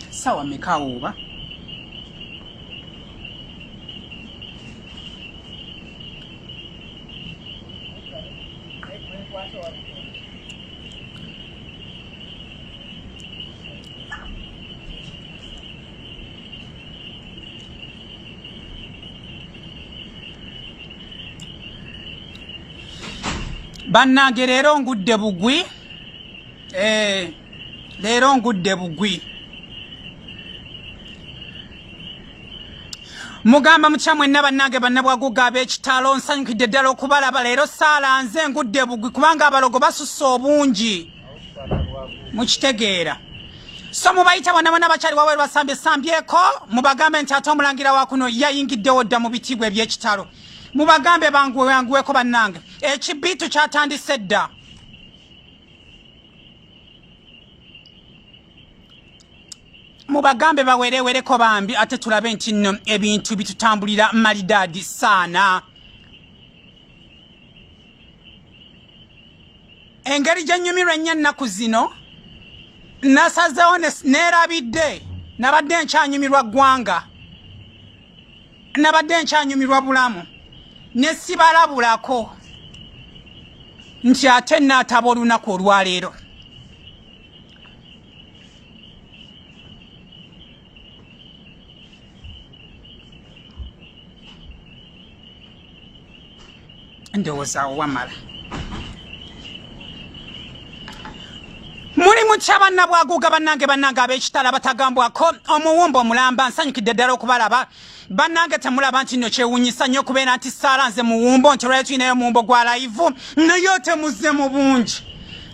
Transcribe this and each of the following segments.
sawa mekawo oba bannange leero ngudde bugwi eh. leero ngudde bugwi mugamba mutya mwenna bannange bannabwaguga ab'ekitalo nsanyukidde ddala okubalaba leero saala nze ngudde bugwi kubanga abalogo basusse obungi mukitegeera so mubayita bona bona bakyali waweru basambye sambyeko mubagambe nti ate omulangira wakuno yayingiddewo dda mu bitiibwa ebyekitalo mubagambe banguwewanguweko bannange ekibiitu kyatandise dda mubagambe bawerewereko bambi ate tulabe nti no ebintu bitutambulira malidaadi saana engeri gyenyumirwa ennyo ennaku zino nasazewo neerabidde nabadde nkyanyumirwa ggwanga nabadde nkyanyumirwa bulamu ne sibalabulako nti ate naataba olunaku olwaleero ndowooza awo wamala muli mutya banna bwaguuga bannange bannange ab'ekitala batagambwako omuwumba omulamba nsanyukidde ddala okubalaba bannange temulaba nti nno kyewunyisa nnyo okubeera nti saala nze muwumbo nti olwali tulinayo omuwumbo gwa layivu naye otemuze mu bungi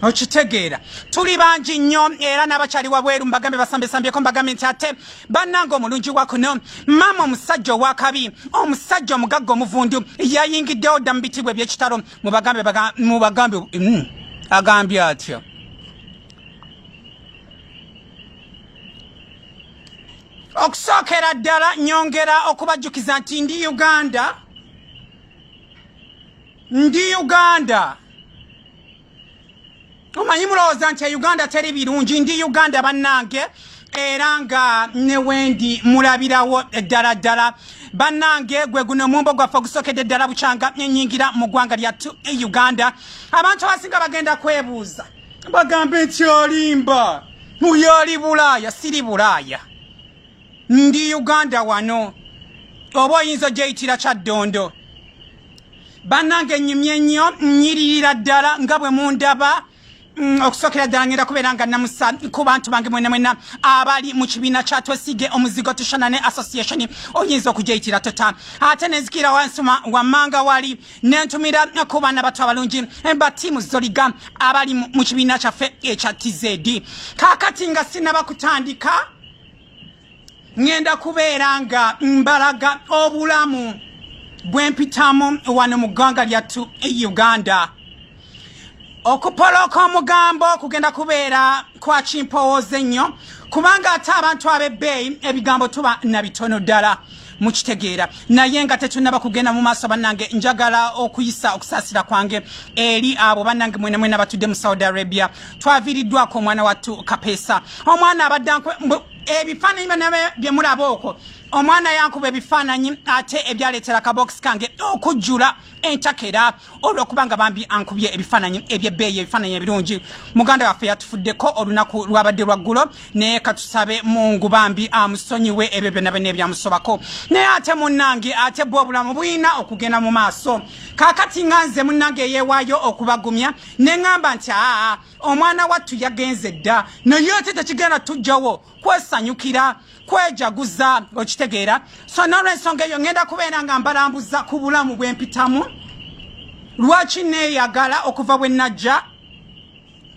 okitegeera tuli bangi nnyo era n'abakyali wabweru mbagambe basambesambyeko mbagambe nti ate bannanga omulungi wa kuno maama omusajja owakabi omusajja omugagga omuvundu yayingiddewo dda mu bitibwa ebyekitalo mubagambe mubagambe mm, agambye atyo okusookera ddala nyongera okubajjukiza nti ndi uganda ndi uganda omanyi mulowooza nti e uganda teri birungi ndi uganda bannange era nga ne wendi mulabirawo ddala ddala bannange gwe guno omumbo gwaffe ogusokedde ddala bukyanga enyingira mu ggwanga lyattu e uganda abantu abasinga bagenda kwebuuza bagambe nti olimba muyo oli bulaaya siri bulaaya ndi uganda wano oba oyinza ogyeyitira kyaddondo bannange nyumye nnyo nyiririra ddala nga bwe mundaba Mm, okusokera ddala ngenda kubeera nga namusa ku bantu bange mwena mwena abali mu kibiina kya twesige omuzigo tushana ne association oyinza okujeyitira tota ate nenzikira wansuma wammanga wali nentumira ku baana batu abalungi eh, ba tiimu zoliga abali mu kibiina kyaffe ekya tizedi kakati nga sinaba kutandika ngenda kubeera nga mbalaga obulamu bwempitamu wano mu ggwanga lyattu e uganda okupolooka omugambo kugenda kubeera kwa kimpowooza ennyo kubanga ate abantu ab'ebbeeyi ebigambo tuba na bitono ddala mukitegeera naye nga tetunaba kugenda mu maaso bannange njagala okuyisa okusaasira kwange eri abo bannange mwena mwena batudde mu saudi arabia twaviiriddwako omwana wattu kapeesa omwana abadde ebifaananyi banabe bye mulaba okwo omwana yankuba ebifaananyi ate ebyaleetera kabokisi kange okujjula entakera olwokuba nga bambi ankubye ebifaananyi ebyebbeeyi ebifaananyi ebirungi muganda waffe yatufuddeko olunaku lwabadde lwaggulo naye katusabe mungu bambi amusonyiwe ebyo byonna byonna ebyamusobako naye ate munnange ate bwe obulamu bulina okugenda mu maaso kaakati nga nze munnange eyeewaayo okubagumya ne ŋŋamba nti aa omwana wattu yagenze dda naye ate tekigenda tujjawo kwesanyukira kwejaguza okitegeera so nolwensonga eyo ngenda kubeera nga mbalambuza ku bulamu bwempitamu lwaki neyagala okuva bwe najja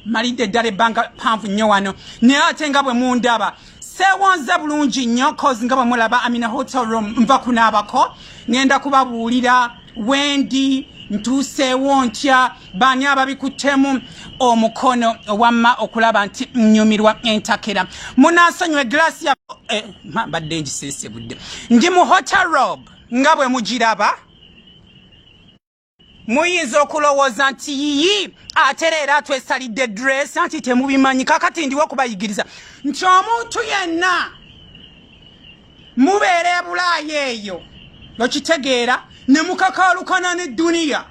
malidde eddala ebbanga panvu nnyo wano naye ate nga bwe mundaba sewonze bulungi nnyo cause nga bwe mulaba amina hotel room nva kunaabako ngenda kubabuulira wendi ntuuseewo ntya baani ababikuttemu omukono wamma okulaba nti nnyumirwa entakera munaasonyiwa eglaasi ya eh, mbadde ngisensebudde ndi mu hotarob nga bwe mugiraba muyinza okulowooza nti yiyi atera era twesalidde dress anti temubimanyi kakati ndiwo okubayigiriza nti omuntu yenna mubeera ebulaaya eyo okitegeera ne mukakaalukana ne duniya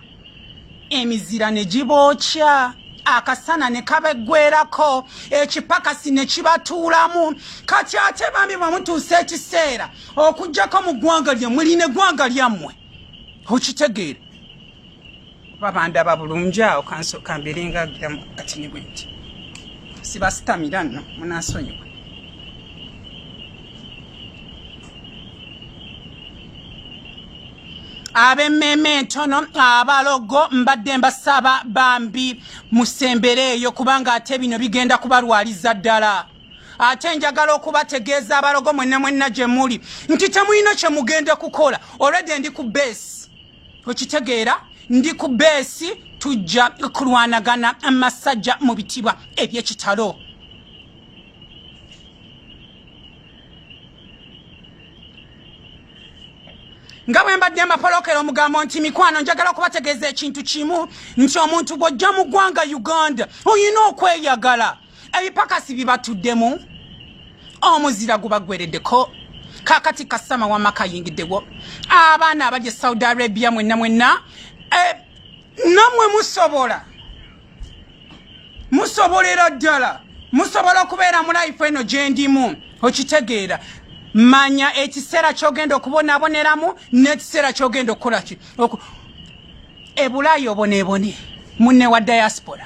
emizira ne gibookya akasana ne kabeggwerako ekipakasi ne kibatuulamu kati ate bambi bwe mutuusa ekiseera okugyako mu ggwanga lyammwe lino eggwanga lyammwe okitegeera kuba bandaba bulungi awo kansooka mbeere nga agiramu kati ne bwenti sibasitamira nno munansonyiwa ab'emmeeme entono abalogo mbadde mbasaba bambi musembere eyo kubanga ate bino bigenda kubalwaliza ddala ate njagala okubategeeza abalogo mwenna mwenna gye muli nti temulina kye mugenda kukola olwedde ndi ku beesi okitegeera ndi ku beesi tujja kulwanagana amasajja mu bitibwa ebyekitalo nga bwe mbadde amapolokero omugambo nti mikwano njagala okubategeeza ekintu kimu nti omuntu gw'ojja mu ggwanga uganda olina okweyagala ebipakasi bibatuddemu omuzira gubagwereddeko kakati kasama wama kayingiddewo abaana abaja e saudi arabia mwenna mwenna eh, namwe musobola musobolera ddala musobola okubeera mu life eno gyendimu okitegeera manya ekiseera kyogenda okubonaboneramu n'ekiseera kyogenda okukola ki ebulaayi obonebone munne wa diaspora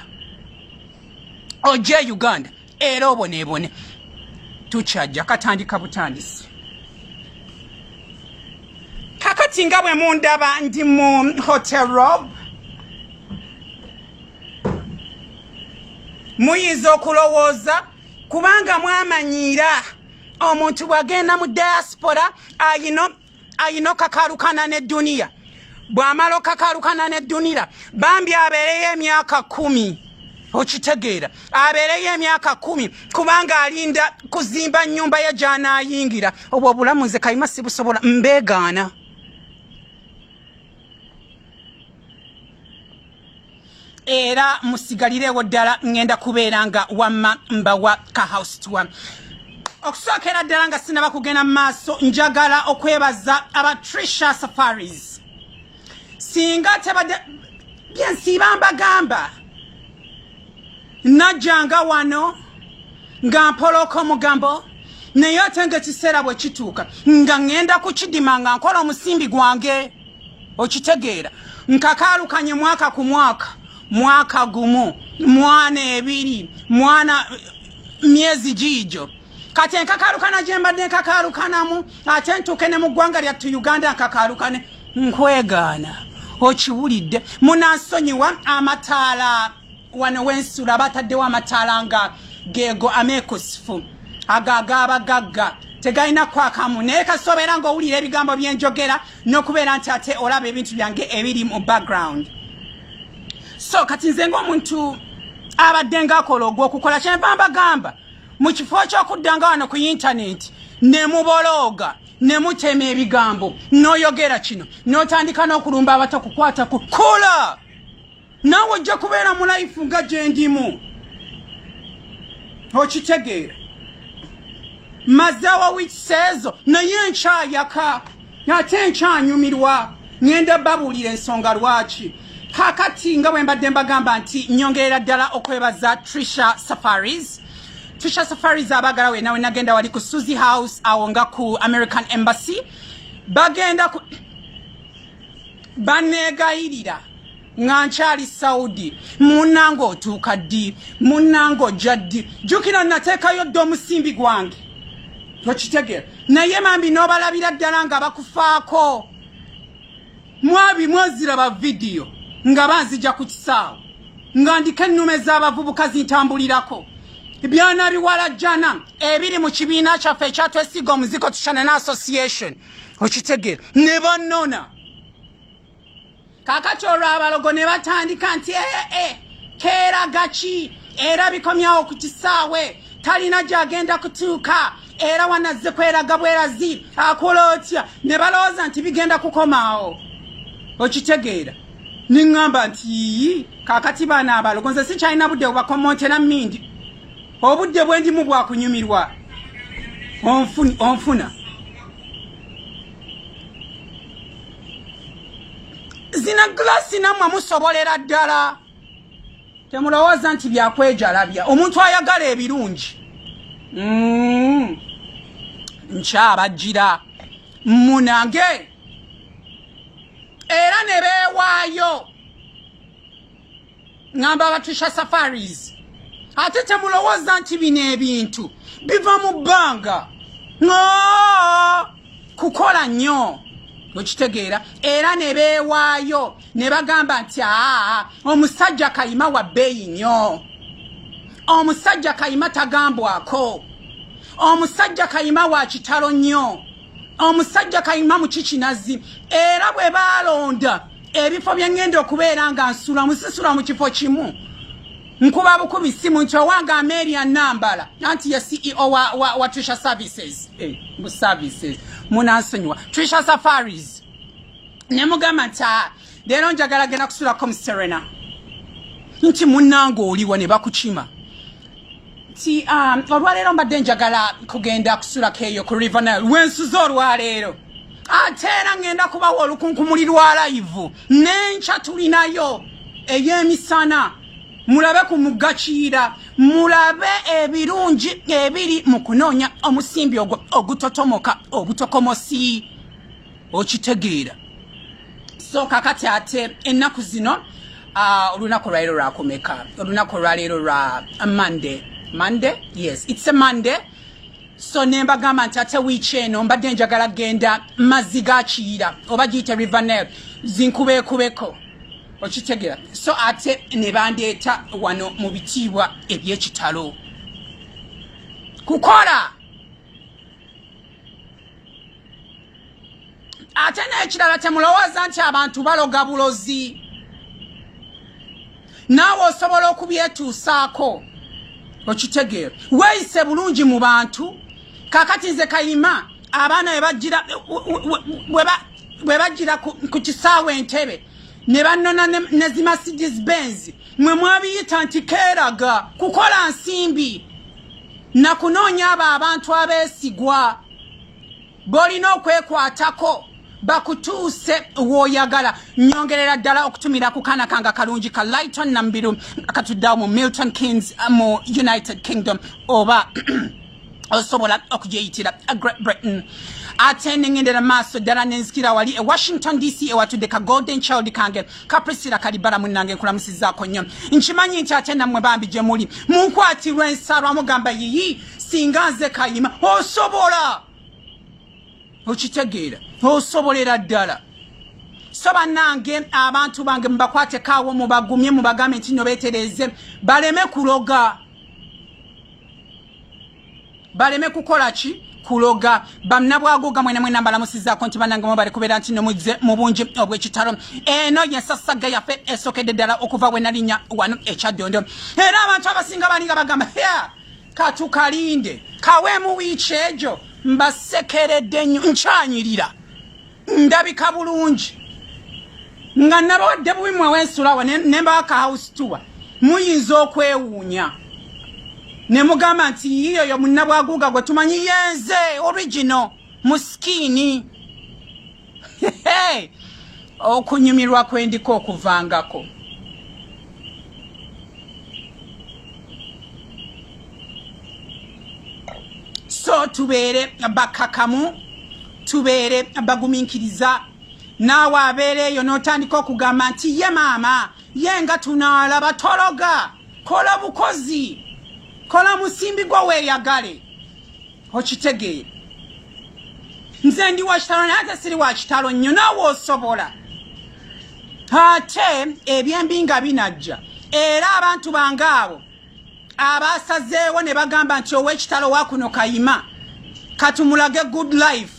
ojje e uganda era oboneebone tukyajja katandika butandisi kakati nga bwe mundaba ndi mu hotel rob muyinza okulowooza kubanga mwamanyiira omuntu bw'agenda mu diaspora ayina ayina okakalukana ne duniya bwamala okakalukana ne dunira bambi abeereyo emyaka kumi okitegeera abeereyo emyaka kumi kubanga alinda kuzimba nyumba ye gyanaayingira obwo obulamu nze kayima sibusobola mbeegaana era musigalirewo ddala ngenda kubeera nga wamma mbawa ka house tour okusookera ddala nga sinaba kugenda mu maaso njagala okwebaza aba trisha safaris singa tebadde byensiiba mbagamba najjanga wano nga mpolooka omugambo naye ate nga ekiseera bwe kituuka nga ŋŋenda ku kidima nga nkola omusimbi gwange okitegeera nkakaalukanye mwaka ku mwaka mwaka gumu mwana ebiri mwana myezi giijo kati enkakaalukana gye mbadde nkakaalukanamu ate ntuuke ne mu ggwanga lyattu uganda nkakaalukane nkwegaana okiwulidde munansonyiwa amataala wano wensula bataddewo amataala nga geego ameekusifu ago agaabagagga tegalina kwakamu naye kasobeera ngaowulira ebigambo byenjogera n'okubeera nti ate olaba ebintu byange ebiri mu background so kati nze ngaomuntu abadde ngaakola ogwokukola kyenva mbagamba mu kifo kyokuddanga wano ku yintaneti ne mubolooga ne mutema ebigambo n'oyogera kino n'otandika n'okulumba abato kukwata ku kula naawe ojja kubeera mu life nga gyendimu okitegeera mazeewo wikiseezo naye enkyayaka ate enkyanyumirwa ngenda babuulira ensonga lwaki kakati nga bwe mbadde mbagamba nti nyongerera ddala okwebaza trisha safaris trisha safaris abagala wena wenagenda wali ku suzy house awo nga ku american embassy bagenda ku baneegayirira nga nkyali saudi munange otuuka ddi munange ojja ddi jukira nateekayo dda omusimbi gwange tokitegera naye mambi nobalabira ddala nga bakufaako mwabi mwoziraba vidiyo nga banzija ku kisaawo nga ndiko ennume z'abavubuka zintambulirako byona biwala jana ebiri mu kibiina kyaffe ekyatwesiga omuziko tucanana association okitegera ne banona kakati olwo abalogo ne batandika nti ee eh, eh, eh, keera gaki era bikomyawo ku kisaawe talina gyagenda kutuuka era wanazze kweraga bwerazi akola otya ne balowooza nti bigenda kukomaawo okitegeera neŋŋamba nti yiyi kakati baana abalogo nze sikyalina budde bubakomontera mindi obudde bwendimu bwakunyumirwa onfuna zina glasi namwe musobolera ddala temulowooza nti byakwejalabya omuntu ayagala ebirungi mm. nkyabajjira munage era ne beewaayo ngamba abatisha safaris ate temulowooza nti bino ebintu biva mu bbanga kukola nnyo okitegeera era ne beewaayo ne bagamba nti aa omusajja kayima wa bbeeyi nnyo omusajja kayima tagambwako omusajja kayima wa kitalo nnyo omusajja kayima mu kikinazi era bwe baalonda ebifo bye ŋŋenda okubeera nga nsula musisula mu kifo kimu nkuba bukubi simu nti owange ameria nambala anti ye ceo wa, wa, wa trisha services hey, eh, mu services munansonyiwa trisha safaris ne mugamba nti Leero njagala genda kusulako mu Serena. Nti munnange oliwa ne bakukima. Nti um, olwaleero mbadde njagala kugenda kusulako eyo ku River Nile. Wensuze olwaleero. Ate era ngenda kubawa olukunkumuli lwa layivu. N'enkya tulinayo ey'emisana. Mulabe ku mugga Kiyira. Mulabe ebirungi ebiri mu kunoonya omusimbi ogutotomoka obutokomosi. okitegeera so kakati ate ennaku zino ah, olunaku uh, lwaleero lwakumeka olunaku olwaleero lwa monday monday yes its a monday so nembagamba nti ate wiiki eno mbadde njagala genda mazzi ga kiyira oba giyite rivernail zinkubeekubeko okitegera so ate ne bandeeta wano mu bitiibwa ebyekitalo kukola ate n'ekirala temulowooza nti abantu baloga bulozi naawe osobola okubyetuusaako okitegeera weeyise bulungi mu bantu kakati nze kayima abaana bwe bajjira ku kisaawe entebe ne bannona ne zimasigis benzi mwe mwabiyita nti keeraga kukola nsimbi na kunoonya abo abantu abeesigwa b'olina okwekwatako bakutuuse wooyagala nyongerera ddala okutumira ku kaana kanga kalungi ka lighton nambiru akatuddawo mu milton kings uh, mu united kingdom oba osobola okujeyitira uh, great britain ate nengendera maaso ddala nenzikira wali e washington dc ewatudde ka golden child kange kaprisira kalibala munange nkulamusizaako nnyo nkimanyi nti ate nammwe bambi gye muli munkwatirwa ensaalwa mugamba yiyi singa nze kayima osobola okitegeera osobolera ddala so banange abantu bange mubakwatekawo mubagumye mubagambe nti no betereze baleme kuloga baleme kukola ki kuloga bannabwago gamwe namwe nambalamusizaako nti banange mu bali kubeera nti nomuzze mu bungi obw'ekitalo eno yensasagga yaffe esokedde ddala okuva bwe nalinya wano ekyaddondo era abantu abasinga balinga bagamba ya katukalinde kaweemu wiiki egyo mbasekeredde nnyo nkyanyirira ndabika bulungi nga nabawadde bubi mwewa ensulawa nembaaka house tour muyinza okwewuunya ne mugamba nti yiyo yo munnabwaguuga gwe tumanyi yenze original musikini okunyumirwa kwendiko okuvangako so tubeere bakakamu tubeere bagumiikiriza naawe abeera eyo n'otandika okugamba nti ye maama ye nga tunaalaba tologa kola bukozi kola musimbi gwo weeyagale okitegeere nze ndi wakitalo naye ate siri wakitalo nnyo naawe osobola ate ebyembi nga binajja era abantu bange abo abaasazeewo ne bagamba nti ow'ekitalo wa kuno kayima katumulage good life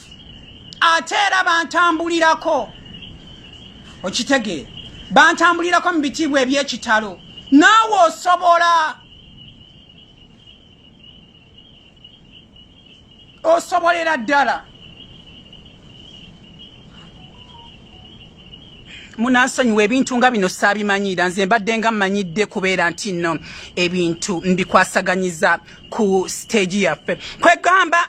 ate era bantambulirako okitegeera bantambulirako mu bitiibwa eby'ekitalo naawe osobola osobolera ddala munansonyiwa ebintu nga bino saabimanyiira nze mbadde nga mmanyidde kubeera nti nno ebintu mbikwasaganyiza ku siteegi yaffe kwegamba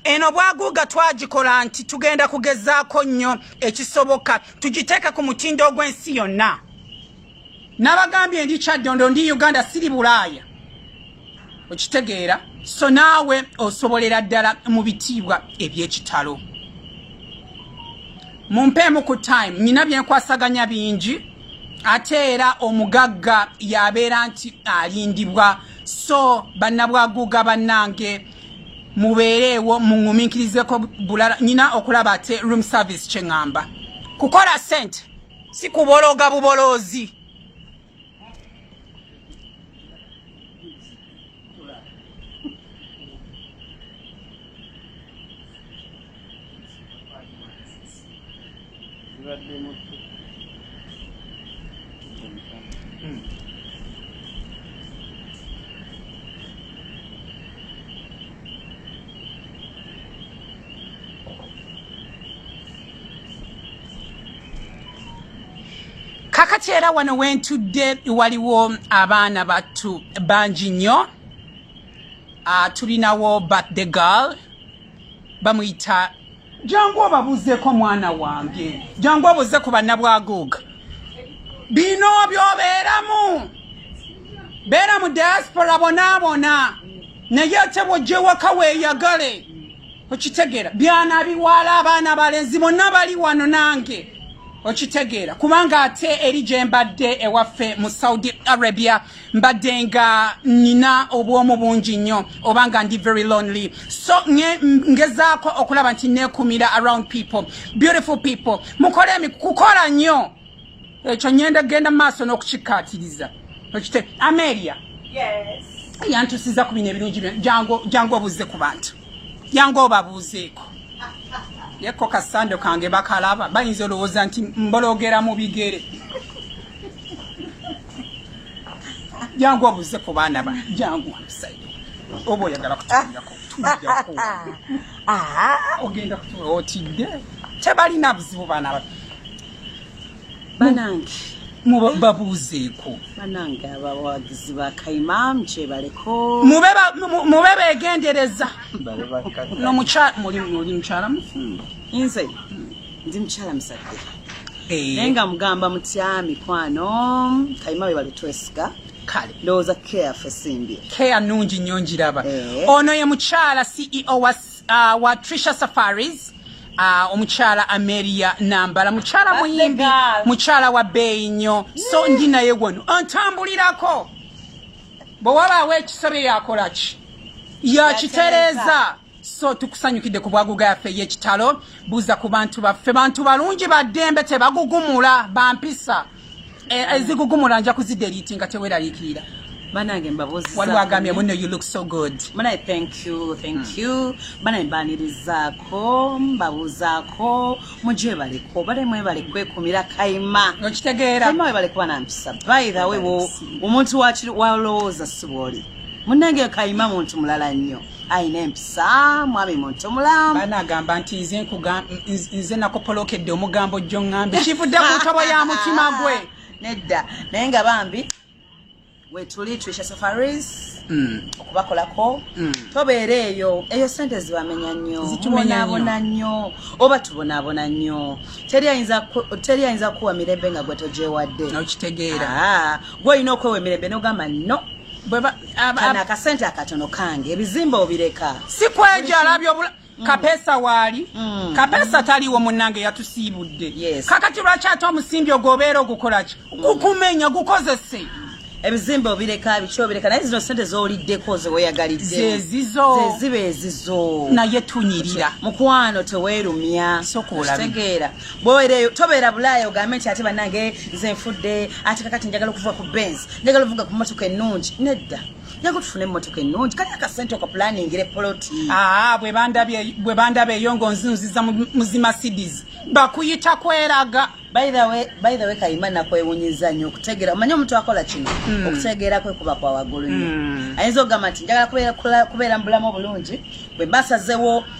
eno bwaguuga twagikola nti tugenda kugezaako nnyo ekisoboka tugiteeke ku mutindo ogw'ensi yonna nabagambye ndi kyaddondo ndi uganda siri bulaaya okitegeera so naawe osobolera ddala mu bitiibwa ebyekitalo mumpeemu ku time nina byenkwasaganya bingi ate era omugagga yabeera nti alindibwa so bannabwaguuga bannange mubeereewo muŋuminkirizeko bulala nina okulaba ate room service kyeŋŋamba kukola sente si kubologa buboloozi kakati era wano wentudde waliwo abaana battu bangi nnyo uh, tulinawo birthday girl bamuyita jangu obabuzeko mwana wange jangu obuze ku banna bwaguuga bino byobeeramu beera mu diaspora bonaabona naye ate bwojewaka weeyagale okitegeera byana biwaala abaana balenzi bonna bali wano nange okitegeera kubanga ate eri gye mbadde ewaffe mu saudi arabia mbadde nga nina obwomu bungi nnyo oba nga ndi very lonely so ngezaako okulaba nti nekumira around people beautiful people mukole kukola nnyo ekyo nyenda genda maaso n'okukikkaatiriza okite amelia yantusiza ku bino ebirungi jangu obuuze ku bantu jangu obabuuzeeko yeko kasando kange bakalaba bayinza olowooza nti mbologera mu bigere jangu obuuze ku baana ba jangu omusajja oba oyagala kutuyako ogenda kutuwa otidde tebalina buzibu baana batu banange mubabuuzeeko banange abawagizi bakaimamu kyebaleko mube begendereza oli mukyala mufumbo nze ndi mukyala musadde eh. naye nga mugamba mutya mikwano kaima webale twesiga kale ndowooza care fe simbye care nungi nnyo ngiraba eh. ono ye mukyala ceo wa, uh, wa trisha safaris Ah, omukyala ameria nambala mukyala muyimbi mukyala wa beeyi nnyo so ndi naye wano antambulirako bwe wabaawo ekisobye yakola ki yakitereeza so tukusanyukidde ku bwaguga yaffe ey'ekitalo buuza ku bantu baffe bantu balungi baddembe tebagugumula bampisa Eh, ezigugumula nja kuzideliiti nga teweraliikirira banange mbabuzi waliwo agambye muno you look so good munaye thank you thank hmm. you banaye mbanirizaako mbabuuzaako mujebaleko bale mwebale kwekumira kaima okitegeera kaima webale kuba nampisa by the way omuntu walowooza sibwoli munange kaima muntu mulala nnyo ayina empisa mwami muntu mulamu bana agamba nti nze nkuga nze nakopolokedde omugambo jjo ngambi kivudde ku ntobo ya mutima gwe nedda naye nga bambi wetuli trisha safaris mm. okubakolako mm. tobeera eyo eyo sente zibamenya nnyo zitubonaabona nnyo oba tubonaabona nnyo teri ayinza kuwa mirembe nga gwe tojewadde okitegeera ah, gwe olina okwewa emirembe nogamba no kano akasente akatono kange ebizimba obireka sikwejo alabye obula mm. kapesa waali mm. kapesa taliwo munange yatusiibudde yes. kakati lwaki ate omusimbi ogwo obeera ogukolaki mm. gukumenya gukozese ebizimba obireka biki obireka naye zino sente zoliddeko zeweyagaliddzezizozeziba ezizo naye tunyirira mukwano tewerumya sokuolategeera bwowereeyo tobeera bulaaya ogambe nti ate banange nze nfudde ate kakati njagala okuvuga ku benz njagala ovuga ku motoka ennungi nedda njaga tufune emmotoka ennungi kali akasente okapulaningira epoloti aa bwe bandaba eyo ngaonzinziza muzima cities bakuyita kweraga bythewe kayima nakwewunyiza nnyo okutegeera omanye omuntu akola kino hmm. okutegeera kwe kuba kwa waggulu nnyo hmm. ayinza okugamba nti njagala kubeera mu bulamu obulungi bwe basazewo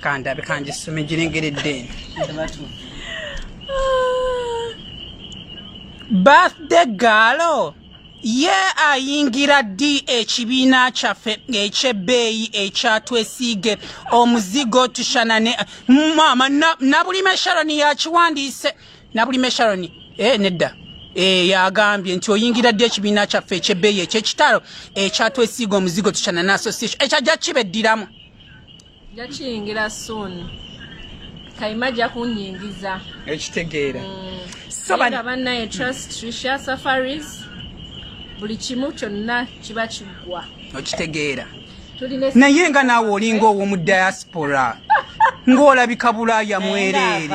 kandabe kangisome girengeredde birthday gaalo ye ayingira ddi ekibiina kyaffe ekyebbeeyi ekyatwesiige omuzigo tushanane maama nabulime sharoni yakiwandiise nabulime sharoni e eh, nedda Eh, yagambye nti oyingira ddi ekibiina kyaffe ekyebbeeyi ekyekitalo ekyatwesiiga eh, omuzigo tukyana ne association ekyajja eh, kibeddiramu jakiyingira soon kayima ajja kunyingiza ekitegeera mm. so bannaye trust trisha safaris buli kimu kyonna kiba kiggwa okitegeera naye nga naawe olinga ow'omu diaspora ng'olabika bulaaya mwereere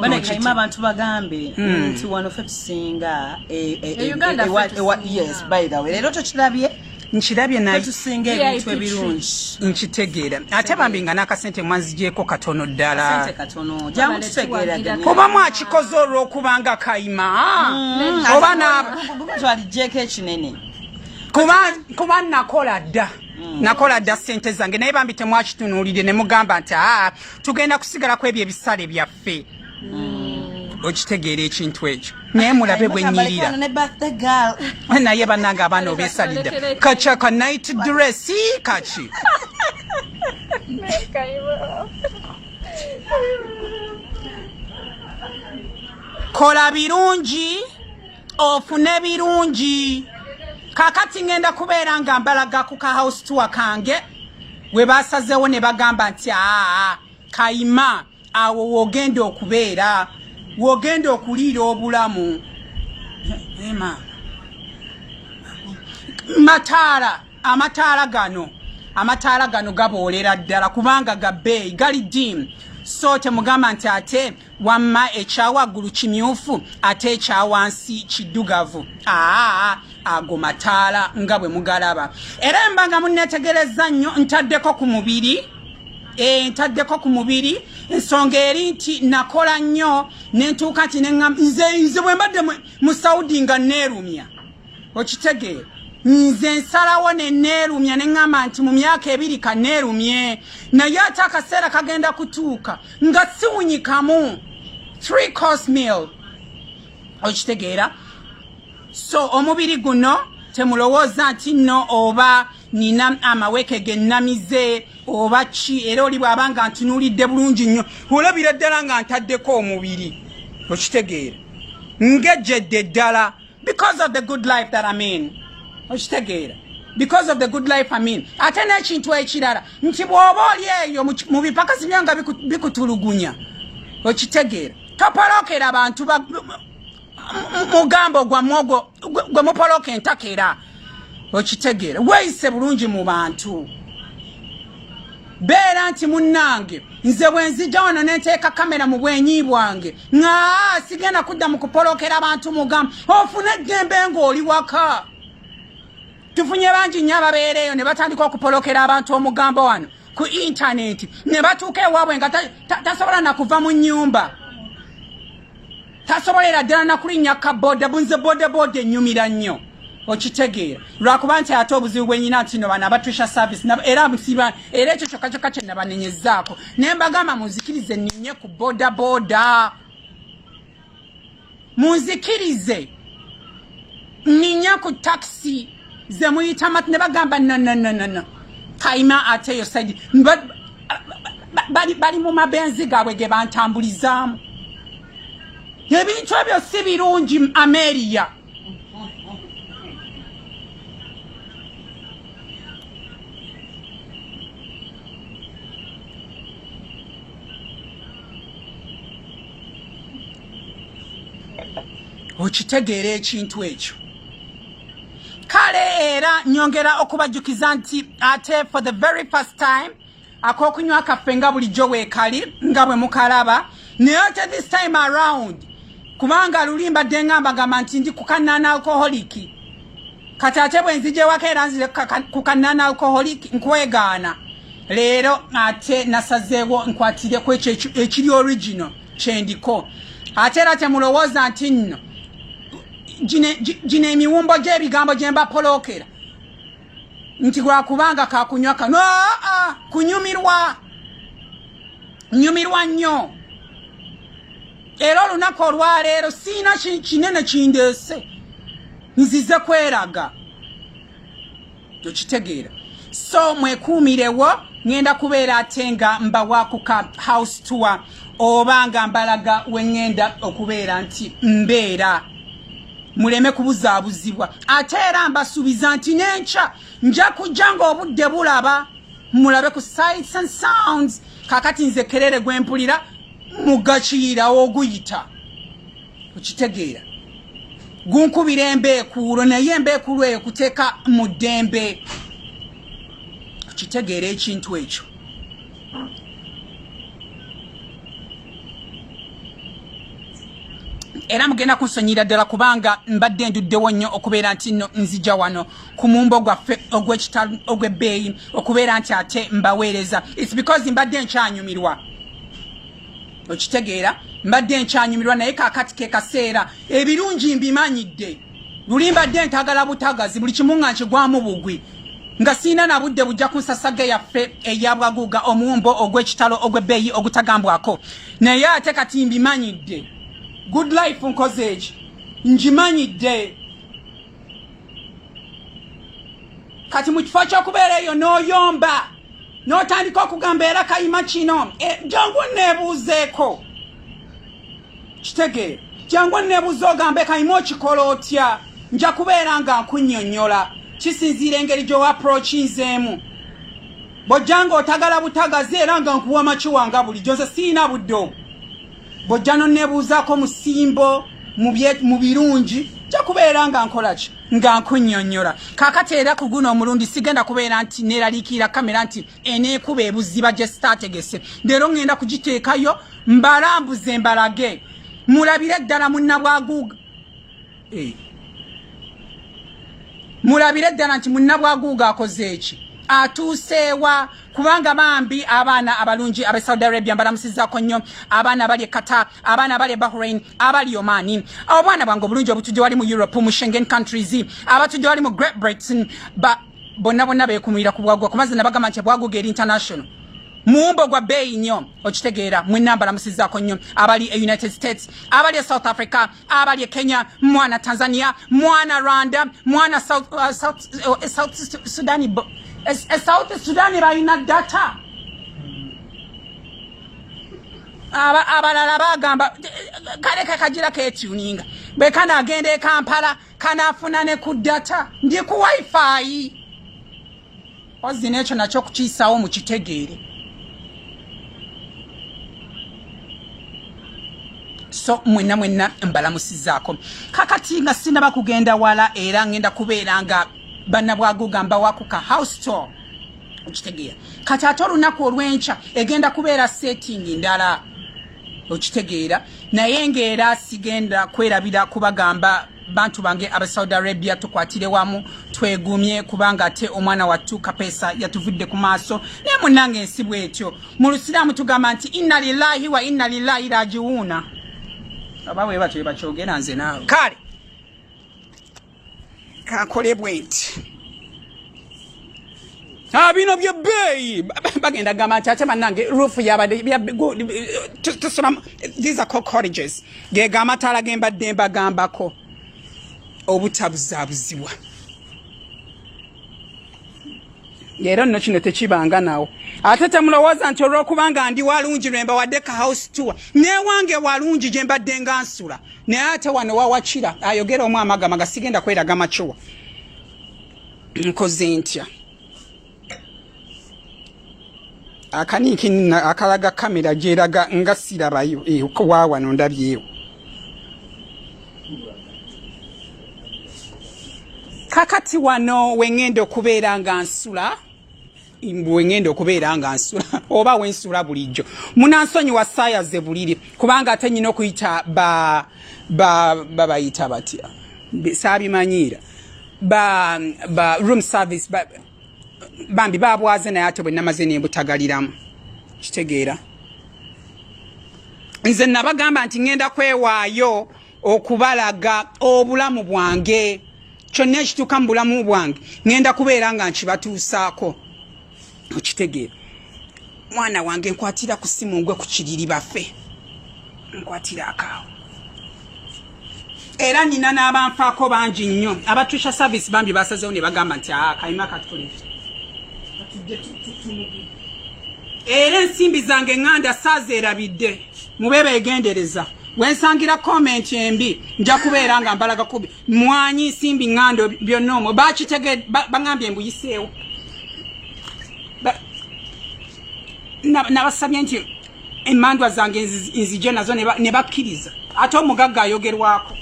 banekaima abantu bagambe hmm. nti wano fe tusinga e, e, e, yes by the way leero tokirabye nkirabye natusinga ebintu ebirungi nkitegeera ate bambi nga n'akasente mwanzigyeko katono ddala kuba mwakikoze olw'okubanga kayima mm. oba naalijeko ekinene kuba nakola dda mm. nakola dda sente zange naye bambi temwakitunuulire ne mugamba nti aa ah, tugenda kusigala ku ebyo ebisale byaffe ffe mm. okitegeera ekintu ekyo naye mulabe bwenyirira naye banange abaana obesalidde kaca ka night dress kaki kola birungi ofune birungi kakati ngenda kubeera nga mbalaga ku ka house tour kange we basazeewo ne bagamba nti aa kayima awo wogenda okubeera wogenda okuliira obulamu ema mataala amataala gano amataala gano gaboolera ddala kubanga gabeeyi gali diimu so temugamba nti ate wamma ekyawaggulu kimyufu ate ekyawansi kiddugavu aa ago mataala nga bwe mugalaba era embanga munetegereza nnyo ntaddeko ku mubiri entaddeko ku mubiri ensonga eri nti nakola nnyo nentuuka nti nze nze bwe mbadde mu saudi nga neerumya okitegeera nze nsalawo neneerumya ne ŋŋamba nti mu myaka ebiri ka neerumye naye ate akaseera kagenda kutuuka nga siwunyikamu three course meal okitegeera so omubiri guno temulowooza nti nno oba nina amaweke ge nnamize oba ki era oli bw'aba nga ntunuulidde bulungi nnyo olabira ddala nga ntaddeko omubiri okitegeera ngejjedde ddala because of the good life that am in okitegeera because of the good life am in ate n'ekintu ekirala nti bw'oba oli eyo mu bipakasi byo nga bikutulugunya okitegeera topolokera bantu mugambo gwammwe ogwo gwe mupoloka entaka era okitegeera weeyise bulungi mu bantu beera nti munnange nze bwe nzija wano ne nteeka kamera mu bwenyi bwange nga sigenda kudda mu kupolokera bantu mugamu ofune eddembe ng'oli waka tufunye bangi nnyo ababeera eyo ne batandika okupolokera abantu omugambo wano ku intaneti ne batuuka ewaabwe nga tasobola na kuva mu nnyumba tasobolera ddala nakulinnya ka boda bunze bodaboda enyumira nnyo okitegeera lwakuba nti ate obuzibu bwenyina nti no bana abatrisha service era musiba era ekyo kyokka kyokka kye nabanenyezaako ne mbagamba munzikirize ninye ku bodaboda munzikirize nginya ku taxi ze muyita mat ne bagamba nanananana kayima ate eyo saidi bali mu mabenzi gaabwe ge bantambulizaamu ebintu ebyo si birungi ameriya okitegeera ekintu ekyo kale era nyongera okubajjukiza nti ate for the very first time akokunywa kaffe nga bulijjo weekali nga bwe mukalaba naye ate this time around kubanga luli mbadde ngamba gamba nti ndi kukanana alkoholiki kati ate bwe nzijewako era nzire ku kanana alcoholic nkwegaana leero ate nasazeewo nkwatireku ekyo ekiri original kyendiko ate era temulowooza nti nno gino emiwumbo gy'ebigambo gye mbapolookera nti lwakubanga kakunywa kano kunyumirwa nyumirwa nnyo era olunaku olwaleero siina kinene kindeese nzize kweraga tokitegeera so mwekuumirewo ŋenda kubeera ate nga mbawakuka house tour oba nga mbalaga weŋenda okubeera nti mbeera muleme kubuzaabuzibwa ate era mbasuubiza nti nenkya nja kujja ngaobudde bulaba mulabe ku sites and sounds kakati nze kerere gwempulira mugakiira oguyita okitegeera gunkubira embeekuulo naye embeekuulo eyo kuteeka mu ddembe okitegeera ekintu ekyo era mugenda kunsonyira ddala kubanga mbadde nduddewo nnyo okubeera nti no nzija wano ku mumbo gwaffe ogw'ekitalo ogw'ebbeeyi okubeera nti ate mbaweereza its because mbadde nkyanyumirwa okitegeera mbadde nkyanyumirwa naye kakati ke kaseera ebirungi mbimanyidde luli mbadde ntagala butagazi buli kimu nga nkigwamu bugwi nga siina na budde bujja ku nsasaga yaffe eyabwaguuga omuwumbo ogw'ekitalo ogw'ebbeeyi ogutagambwako naye ate kati mbimanyidde good life nkoze eki ngimanyidde kati mu kifo ky'okubeera eyo n'oyomba n'otandika okugamba era kayima kino e, jangu neebuuzeeko kitegeera jangu neebuuze ogambe kayima okikola otya nja kubeera nga nkunyonyola kisinziira engeri gy'owa aprokinzeemu bw'ojja nga otagala butagazi era nga nkuwa makiwanga bulijjo nze siyina budde obwo bw'ojja n'onneebuuzaako mu ssimbo mu birungi nja kubeera nga nkola ki nga nkunyonyola kakati era ku guno omulundi sigenda kubeera nti neeraliikirira kamera nti eneekuba ebuziba gye sitaategese leero ŋŋenda kugiteekayo mbalambuze mbalage mulabire ddala munnabwaguuga eh. mulabire ddala nti munnabwaguuga akoze eki atuuseewa kubanga bambi abaana abalungi abe saudi arabia mbalamusizako nnyo abaana abali ekata abaana abali ebahrain abali omani obwana bwange obulungi obutujje wali mu europe mu shengen countries abatujje wali mu great britain bonna bonna bekumulira ku bwagwa kumaze nabagamba nti bwaguga eri international mumbo gwa beeyi nnyo okitegeera mwenna mbalamusizako nnyo abali e united states abali e south africa abali Kenya mwana Tanzania mwana Rwanda mwana South, uh, South, uh, South Sudan uh, South Sudan balina data abalala bagamba kale kakajira ketuninga bwe kanagenda e Kampala kanafuna ne ku data ndi ku wifi Ozzi n'ekyo nakyo kukiyisaawo mu kitegeere. so mwenna mwenna mbalamusizaako kakati nga sinaba kugenda wala era ngenda kubeera nga banna bwaguga mbawakuka house tour okitegeera kati ate olunaku olwenkya egenda kubeera setting ndala okitegeera naye ngaera sigenda kwerabira kubagamba bantu bange aba Saudi Arabia tukwatire wamu twegumye kubanga ate omwana wattu kapeesa yatuvudde ku maaso naye munnange ensi bwetyo mu lusiraamu tugamba nti inna lillahi wa inna lillahi rajiwuuna aba bwe batyo bakyogera nze naawe kale kakole bwenti Ah, bino bye beeyi bagenda gamba nti ate bannange ruufu yabadde tusulamu these are cottages gega amataala ge mbadde mbagambako obutabuzaabuzibwa era nno kino tekibanga nawo ate temulowooza nti olw'okubanga ndi walungi lwe mbawadde ka house tour newange walungi gye mbadde nga nsula naye ate wano wawakira ayogera omu amagamaga sigenda kweraga makiwa nkoze ntya akaniiki akalaga kamera gyeraga nga sirabayo eh, wawano ndabyewo kakati wano wengenda okubeera nga nsula wengenda okubeera nga nsula oba wensula bulijjo munansonyiwa saaya ze buliri kubanga ate nyina okuyita babayita batya saabimanyiira ba ba room service ba bambi babwaze naye ate bwe namaze nembutagaliramu kitegeera nze nabagamba nti ŋenda kwewaayo okubalaga obulamu bwange kyonna ekituuka mu bulamu bwange ŋenda kubeera nga nkibatuusaako okitegeera mwana wange nkwatira ku simu ngwe ku kiriri bafe nkwatira akaawo era nina n'abanfaako bangi nnyo abatusha service bambi basazewo ne bagamba nti ah, kayima katukolera era ensimbi zange ŋŋanda saazeerabidde mube beegendereza wensangira komenti embi nja kubeera nga mbalaga kubi mwanyi nsimbi ŋŋando byonna omwo bakitege baŋambye mbuyiseewo nabasabye nti emandwa zange nzije nazo ne bakkiriza ate omugagga ayogerwako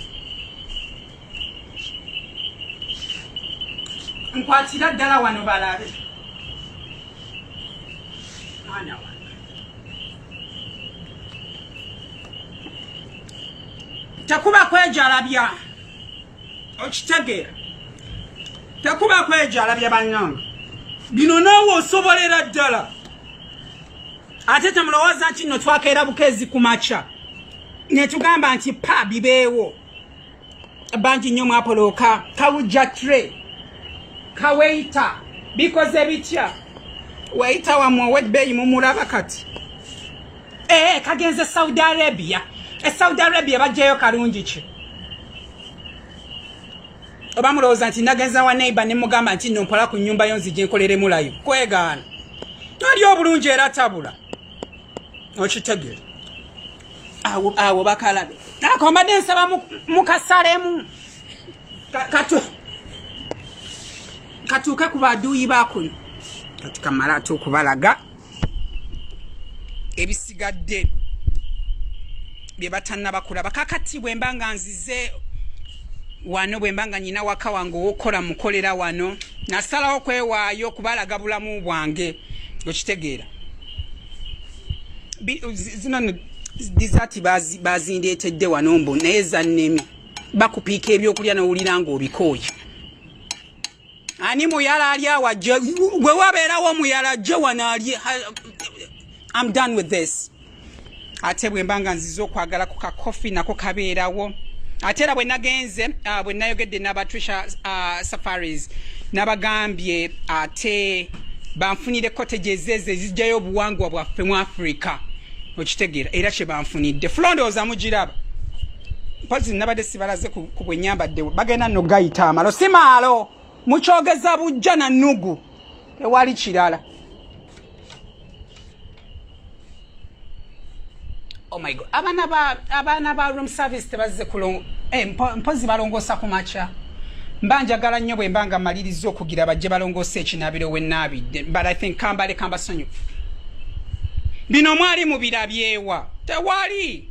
nkwatira ddala wano balabe tekuba kwejalabya okitegeera tekuba kwejalabya bannange bino naawe osobolera ddala ate temulowooza nti nno twakeera bukeezi ku makya ne tugamba nti pa bibeewo bangi nnyo mwapolooka kawujja tre kaweita bikoze bitya waita wamwe owedbeeyi mumulaba kati ee eh, kagenze saudi arabia e saudi arabia bajjayo kalungi ki oba mulowooza nti nagenza wa neiba ne mugamba nti no mpola ku nyumba yo nzija enkoleremulayo kwegaana ali obulungi era tabula okitegere awo awo bakalabe akombadde nsaba mukasalemu katuuke ku baduuyi bakuno kati kamala ate okubalaga ebisigadde bye batannabakulaba kakati bwe mba nga nzize wano bwe mba nga nyina waka wange owokukola mukolera wano nasalawo kwewaayo kubalaga bulamu bwange okitegeera zino dizati bazindeetedde wano mbu naye zannemi bakupiika ebyokulya nowulira nga obikooye ani muyala ali awa gwe wabeerawo omuyala gye wano ali am done with this ate bwemba nga nziza okwagala ku kakofi nako kabeerawo ate era bwe nagenze uh, bwe nayogedde n'aba trisha uh, safaris nabagambye ate banfunire cottage ezeezo ezijjayo obuwangwa bwaffe mu africa okitegeera era kye banfunidde fulondooza mugiraba mpozi nabadde sibalaze ku bwe nyambaddewo bagenda no gayita amalo si maalo mukyogeza bujja na nugu tewali kirala Oh my God. Abana ba abana ba room service tebazze kulongo eh, mpo, mpozi balongosa ku macha mbanja gala nnyo bwe mbanga maliriza okugira bajje balongosa ekinabiro we nabi but I think kambale kamba sonyo bino mwali mu birabyewa tewali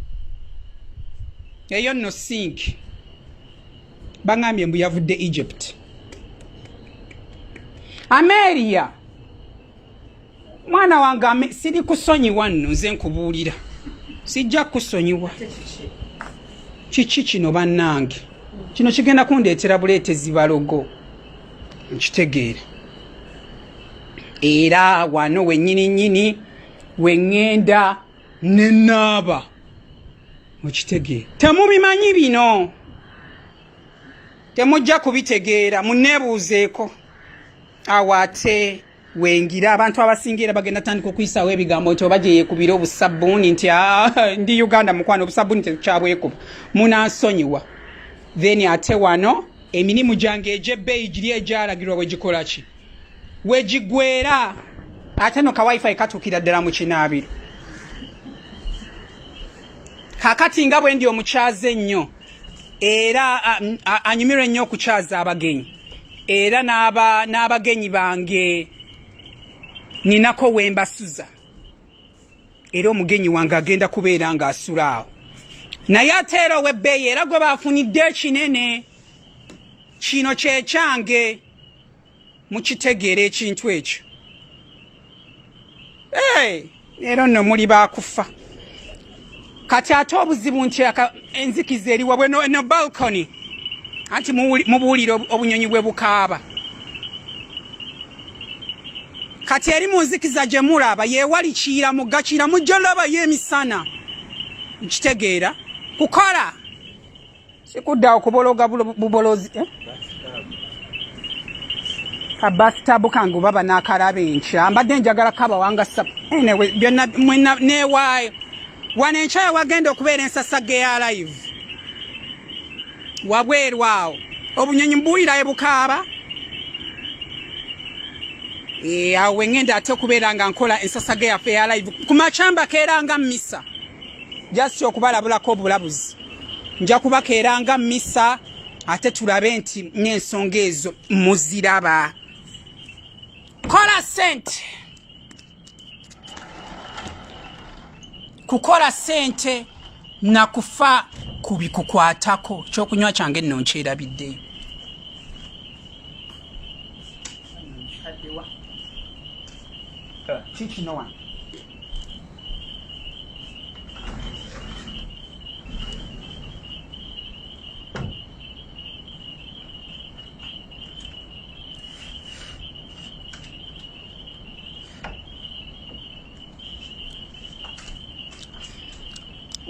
eyo no sink bangambye mbu yavudde Egypt Ameria mwana wange siri kusonyiwa nno nze nkubuulira sijja kusonyiwa kiki kino bannange kino kigenda kundeetera buleetezi balogo nkitegeera era wano wenyini nyini wengenda nenaaba mukitegeera temubimanyi bino temujja kubitegeera muneebuuzeeko awo ate wengira abantu abasinga era bagenda tandika okuyisaawo ebigambo nti oba gyeyekubira obusabbuuni nti ah, ndi uganda mukwano obusabbuuni tetukyabwekuba munansonyiwa then ate wano emirimu gyange egyebbeeyi giri egyalagirwa wegikola ki wegigwera ate no kawifi katuukira ddala mu kinaabiro kakati nga bwendi omukyaze ennyo era anyumirwa ennyo okukyaza abagenyi era n'abagenyi bange ninako wembasuza era omugenyi wange agenda kubeera ng'asula awo naye ate era ow'ebbeeyi era gwe baafunidde ekinene kino kyekyange mukitegeera ekintu ekyo leero nno muli bakufa kati ate obuzibu nti enzikiza eri wabwe no balcony anti mubuulire obunyonyi bwe bukaaba kati eri mu nzikiza gye mulaba yeewali kiira mugga kiira mujja olabayo emisana nkitegeera kukola sikudda okubologa bubolozi eh? kabasitabu kange oba banakalaba enkya mbadde njagala kabawanga sabu anyway byonna mwena newaayo wano enkyaya wagenda okubeera ensasage ya live wabweru awo obunyonyi mbuwulira ebukaaba Eh, awo wengenda ate okubeera nga nkola ensasage yaffe ya live ku macamba keera nga misa just okubalabulako obulabuzi nja kubakeera nga misa ate tulabe nti n'ensonga ezo muziraba kola sente kukola sente na kufa ku bikukwatako kyokunywa kyange nno nkyerabiddeyo kikinowa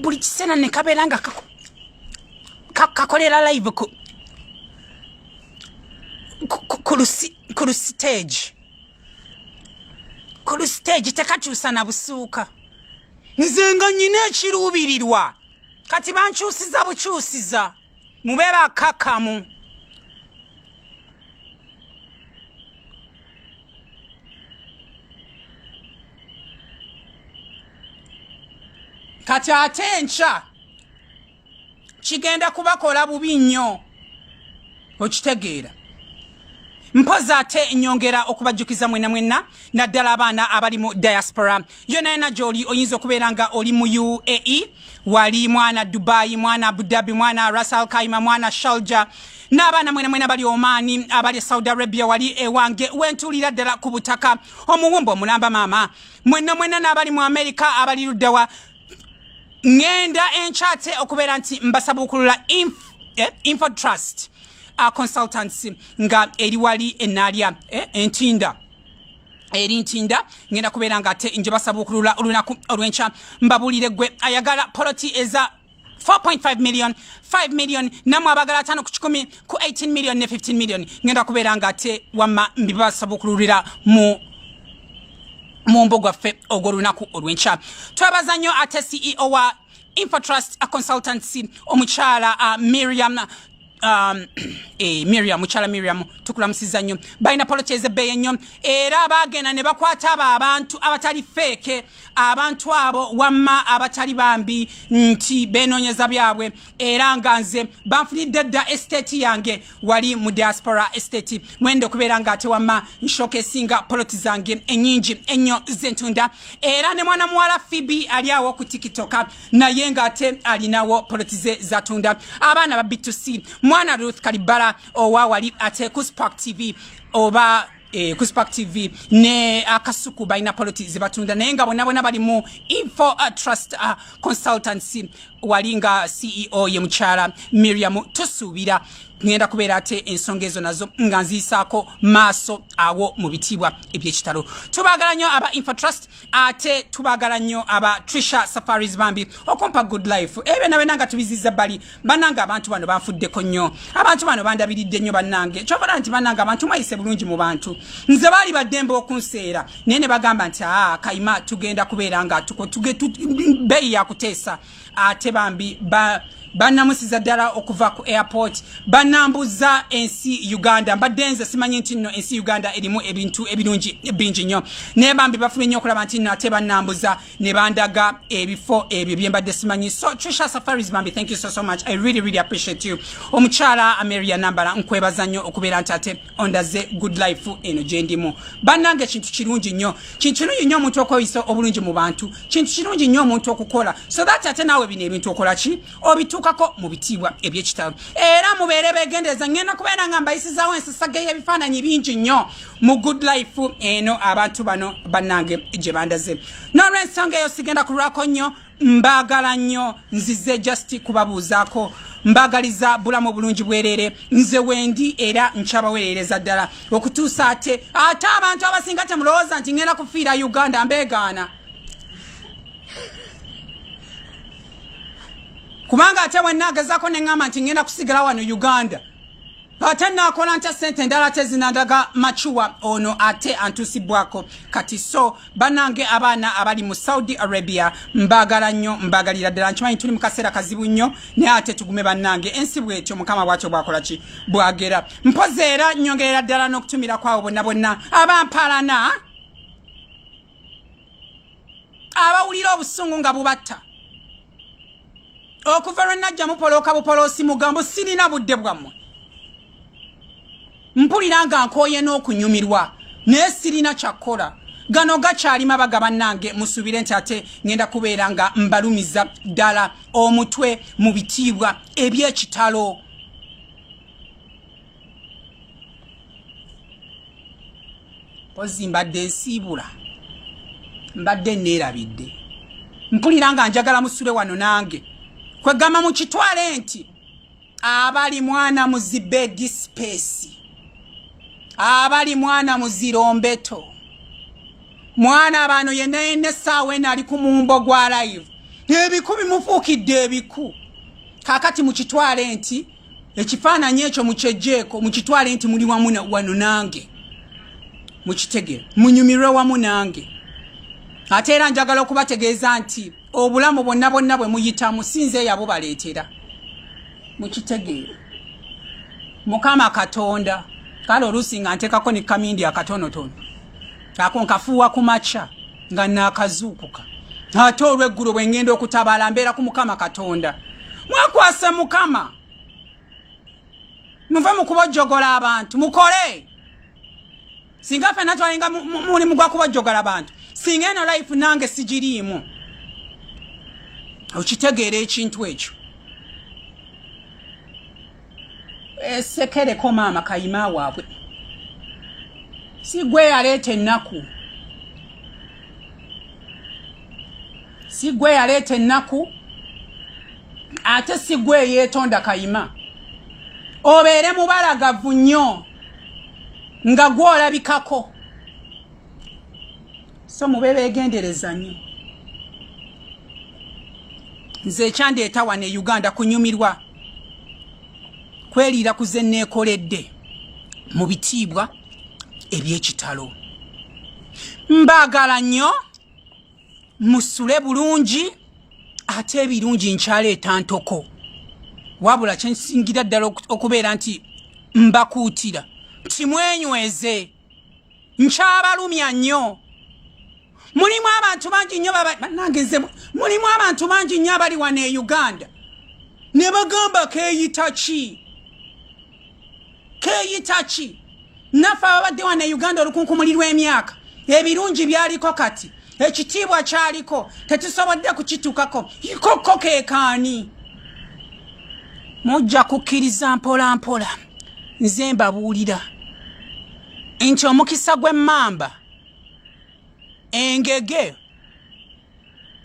buli kiseera ne kabeera nga kakolera live ku ku lusiteegi ku lusiteegi tekakyusa na busuuka nze nga nyina ekiruubirirwa kati bankyusiza bukyusiza mube bakakamu kati ate enkya kigenda kubakola bubi nnyo okitegeera mpozi ate nyongera okubajjukiza mwena mwena naddala abaana abali mu diaspora yona yona gyoli oyinza okubeera nga oli mu uae wali mwana dubai mwana abudabi mwana rasal kaima mwana shalja n'abaana mwena mwena bali omaani abali saudi arabia wali ewange wentuulira ddala ku butaka omuwumba omulamba maama mwena mwena n'abali mu amerika abali luddawa ngenda enkyate okubeera nti mbasabuukulula eh, info trust uh, consultancy nga eri wali enaalya eh, entinda eri ntinda ngenda kubeera nga ate nje basabuukulula olunaku olwenkya mbabuulire gwe ayagala poloti eza 4.5 million 5 million namwe abagala atano ku kikumi ku 18 million ne 15 million ngenda kubeera nga ate wamma mbibasabukululira mu mu mbo gwaffe ogw'olunaku olw'enkya twebaza nnyo ate ceo wa infotrust consultancy omukyala uh, miriam um, eh, miriam mukyala miriam tukulamusiza nnyo balina poloti ezebbeeyi ennyo era baagenda ne bakwata abo abantu abatali feeke abantu abo wamma abatali bambi nti benoonyeza byabwe era nga nze banfunidde dda esiteeti yange wali mu diaspora estate mwenda okubeera nga ate wamma nshoka esinga poloti zange enyingi ennyo zentunda era ne mwana muwala fibi ali awo ku tikitoka naye nga ate alinawo poloti ze zatunda abaana ba bitusi mwana ruth kalibala owa wali ate ku spark tv oba eh, ku spark tv ne akasuku balina poloti zebatunda naye nga bona bona bali mu info uh, trust uh, consultancy wali nga ceo ye mukyala miriam tusuubira ngenda kubeera ate ensonga ezo nazo nga nziisaako maaso awo mu bitiibwa ebyekitalo tubaagala nnyo aba info trust ate tubagala nnyo aba trisha safaris bambi okumpa good life ebyo nawe nanga tubiziza bali banange abantu bano banfuddeko nnyo abantu bano bandabiridde nnyo banange kyobala nti banange abantu mwayise bulungi mu bantu nze baali baddembe okunseera naye ne bagamba nti aa ah, kaima tugenda kubeera nga tuko beeyi yakuteesa ate bambi ba banamusiza ddala okuva ku airport banambuza ensi uganda mbadde nze simanyi nti nno ensi uganda erimu ebintu ebirungi bingi nnyo naye bambi bafube nnyo okulaba nti nno ate banambuza ne bandaga ebifo ebyo byembadde simanyi so trisha safaris bambi thank you so so much i really really appreciate you omukyala ameria nambala nkwebaza nnyo okubeera nti ate ondaze good life eno gyendimu bannange kintu kirungi nnyo kintu kirungi nnyo omuntu okweyisa obulungi mu bantu kintu kirungi nnyo omuntu okukola so that ate naawe bino ebintu okola ki obituukako mu bitiibwa ebyekitalo era mubeere begendereza ngenda kubeera nga mbayisizaawo ensisaga y'ebifaananyi bingi nnyo mu good life eno abantu bano bannange gye bandaze n'olwensonga eyo sigenda kulwako nnyo mbagala nnyo nzize just kubabuuzaako mbagaliza bulamu obulungi bwerere nze wendi era nkyabawereereza ddala okutuusa ate ate abantu abasinga temulowooza nti ngenda kufiira uganda mbegaana kubanga ate wenna agezako neŋŋamba nti ngenda kusigala wano uganda ate nakola ntya sente endala tezinandaga macuwa ono ate antusibwako kati so banange abaana abali mu saudi arabia mbagala nnyo mbagalira ddala nkimanyi tuli mukaseera kazibu nnyo naye ate tugume banange ensi bwetyo mukama bwatyo bwakola ki bwagera mpozi era nyongerera ddala n'okutumira kwawo bonna bonna abampalana abawulira obusungu nga bubatta okuva lwe najja mupolooka bupoloosi mugambo sirina budde bwammwe mpulira nga nkooye n'okunyumirwa naye sirina kyakkola gano gakyali mabaga bannange musubire nti ate ngenda kubeera nga mbalumiza ddala omutwe mu bitiibwa ebyekitalo mpozi mbadde nsiibula mbadde neerabidde mpulira nga njagala musule wano nange kwegamba mu kitwale nti abali mwana muzibe disipesi abali mwana muzirombeto mwana bano yena yena esaawa ena ali ku mumbo gwa live ebiku bimufuukidde ebiku kakati mukitwale nti ekifaananyi ekyo mukyejjeeko mukitwale nti muli wamu wano nange mukitegere munyumirwe wamu nange ate era njagala okubategeeza nti obulamu bonna bonna bwe muyitamu sinze eyabo baleetera mukitegeere mukama katonda kale oluusi nga nteekako ne kamindi akatonotono ako nkafuuwa ku makya nga naakazuukuka ate olweggulo bwe ŋŋenda okutabaala mbeera ku mukama katonda mwekwase mukama muve mu kubojjogola abantu mukole singa fena twalinga mulimu gwa kubojjogola abantu singa eno life nange sigiriimu okitegeera ekintu ekyo esekereko maama kayima waabwe si gwe yaleeta ennaku si gwe yaleeta ennaku ate si gwe eyeetonda kayima obeere mubalagavu nnyo nga gwolabikako so mube begendereza nyo nze ekyandeeta wano e uganda kunyumirwa kweriira ku ze neekoledde mu bitiibwa eby'ekitalo mbaagala nnyo musule bulungi ate ebirungi nkyaleeta ntoko wabula kyensingira ddala okubeera nti mbakuutira timwenyweze nkyabalumya nnyo mulimu abantu bangi nnyo banangeze mulimu abantu bangi nnyo abali wano e uganda ne bagamba keyita ki keyita ki naffe ababadde wano e uganda olukunkumuli lw'emyaka ebirungi byaliko kati ekitiibwa kyaliko tetusobodde kukitukako ikokko kekaani mujja kukkiriza mpola mpola nze mbabuulira nti omukisa gw'emmamba engege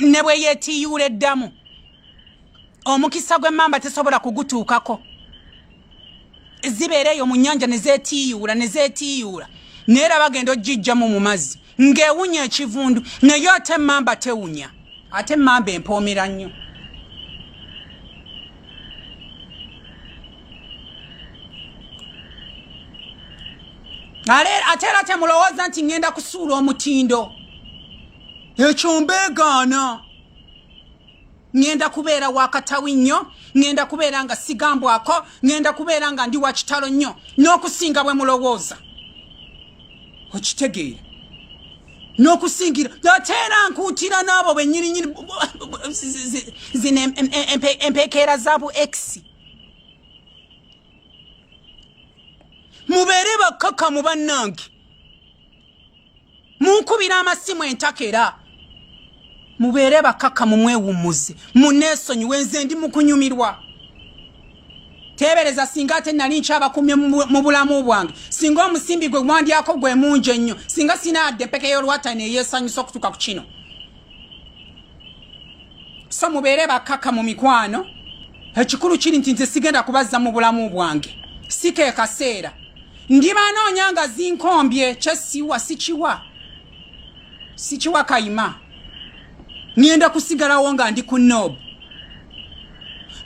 ne bwe yeetiyuula eddamu omukisa gw'emmamba tesobola kugutuukako zibeera eyo mu nnyanja ne zeetiyuula ne zeetiyuula naye era bagenda ojjijjamu mu mazzi ng'ewunya ekivundu naye ate emmamba tewunya ate emmamba empoomera nnyo ate era temulowooza nti ŋŋenda kusuula omutindo ekyo mbeegaana ngenda kubeera wakatawi nnyo ngenda kubeera nga sigambwako ngenda kubeera nga ndi wakitalo nnyo n'okusinga bwe mulowooza okitegeera n'okusingira ate era nkuutira n'abo benyirinyini zino empekeera za bu ekisi mubeere bakkakamu bannange munkubira amasimu entakera mubeere bakaka mumwewummuze muneesonyiwe nze ndi mukunyumirwa teebereza singa ate nali nkyabakumye mu bulamu bwange singa omusimbi gwe gwandyako gwe mungi ennyo singa sinaadde peke y'olwatani eyeesanyusa okutuuka ku kino so mubeere bakkaka mu mikwano ekikulu kiri nti nze sigenda kubazza mu bulamu bwange si ke kaseera ndibanoonya nga zinkombye kyesiwa sikiwa sikiwa kayima ngenda kusigalawo nga ndi ku nob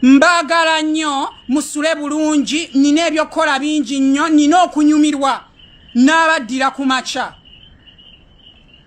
mbagala nnyo musule bulungi nina ebyokukola bingi nnyo nina okunyumirwa n'abaddira ku makya